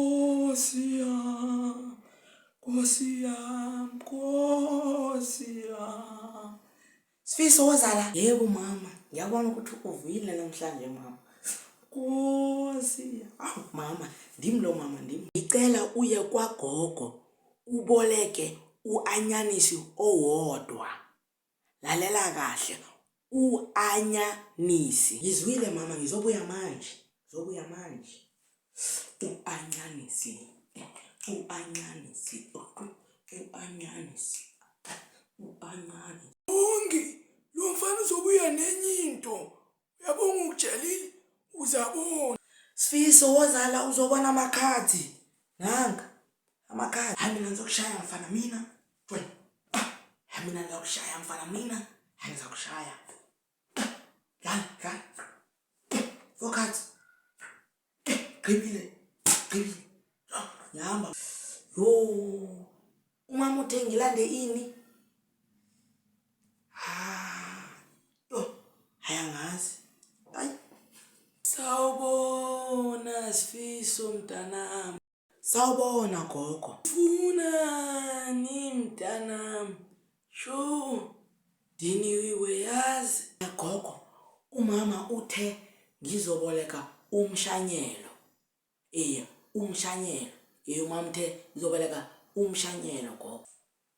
Nkosi yam, Nkosi yam, Nkosi yam. Sifiso wozala? Yebo mama, ngiyabona ukuthi uvuyile namhlanje mama. Nkosi yam. Awu mama, ndim lo mama ndim. Ngicela uye kwagogo uboleke uanyanisi owodwa. Lalela kahle uanyanisi. Ngizwile mama ngizobuya manje ngizobuya manje uanyanisi uanyanisi uanyanisi uanyanisi. Bongi lomfana uzobuya nenye into uyabonga ukutshelile uzabona Sfiso wozala uzobona amakhadi nanka amakhadi hayi mina ngizokushaya mfana mina jwena ah, hayi mina ngizokushaya mfana mina hayi ngizokushaya dlala dlala four cards Gqibile. Gqibile. Ngihamba. Yo. Umama uthe ngilande ini? Ah. Yo. Haya ngazi. Ay. Sawubona Sifiso mntanami. Sawubona gogo. Funani mntanami? Sho diniwe yazi. Gogo umama uthe ngizoboleka umshanyelo. Eya umshanyelo. Eya umama uthe ngizoboleka umshanyelo gogo.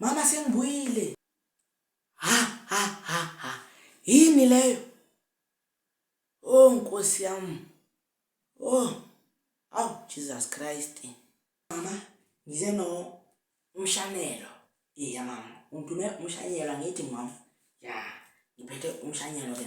Mama sengibuyile. Ha ha ha ha. Yini leyo? Oh Nkosi yami. Oh. Aw Jesus Christ. Mama ngize no umshanelo. Iya mama. Ungidume umshanyelo ngithi mama. Ya. Ngiphethe umshanyelo ke.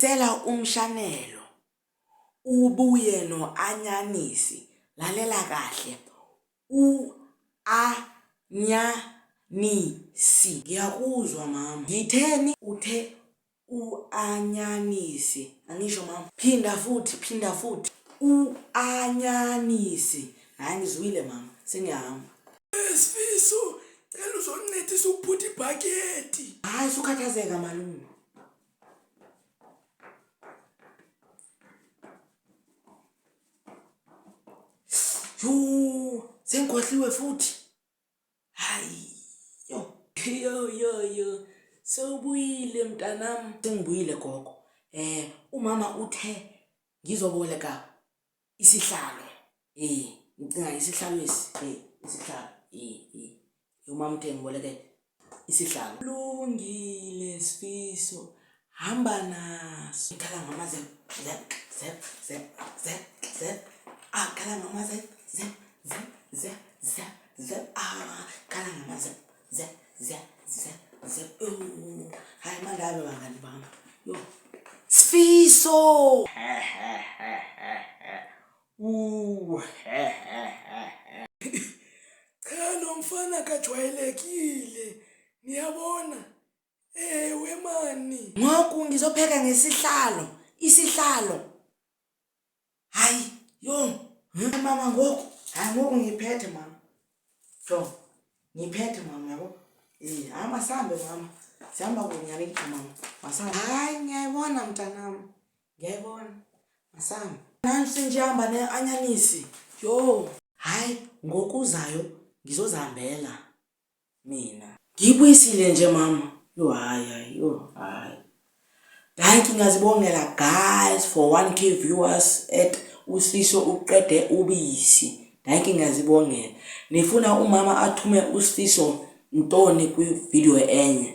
Cela umshanelo ubuye no anyanisi lalela kahle u a nya ni si. Ngiyakuzwa mama. Ngitheni? Uthe u a nya ni si. Angisho mama. Phinda futhi phinda futhi. U a nya ni si. Hayi ngizwile mama sengiyahamba. Sfiso cela uzoncedisa ukuphuta ibhakedi. Hayi sukhathazeka malume. Yuu, sengikhohliwe futhi. Hayi. Yo, yo, yo, yo. Sewubuyile mntanami. Sengibuyile gogo. Eh, umama uthe ngizoboleka isihlalo eh ngicinga isihlalo esi eh isihlalo eh eh umamthenge ngiboleke isihlalo lungile sifiso hamba naso ngikhala ngamaze zep zep zep zep zep akhala ngamaze zep zep zep zep zep ah khala ngamaze zya zya zya zya Ewu, hayi mandalo bangani bami yo sifiso Uwu, cha lo mfana kajwayelekile niyabona ewe mani ngoku ngizopheka ngesihlalo isihlalo hayi yo hmm? mama ngoku hayi ngoku ngiphethe mama jo ngiphethe mama yabo um hayi masambe mama sihamba kunyanikho mama masambe hayi ngiyayibona mntanam ngiyayibona masambe nansi ndihamba ne-anyanisi yho hayi ngokuzayo ngizozihambela mina. Ngiyibuyisile nje mama. Yo hayi hayi yo hayi. Dankie ngiyazibongela guys for 1k viewers at usiso uqede ubisi. Dankie ngiyazibongela. Nifuna umama athume usiso ntoni kwi video enye.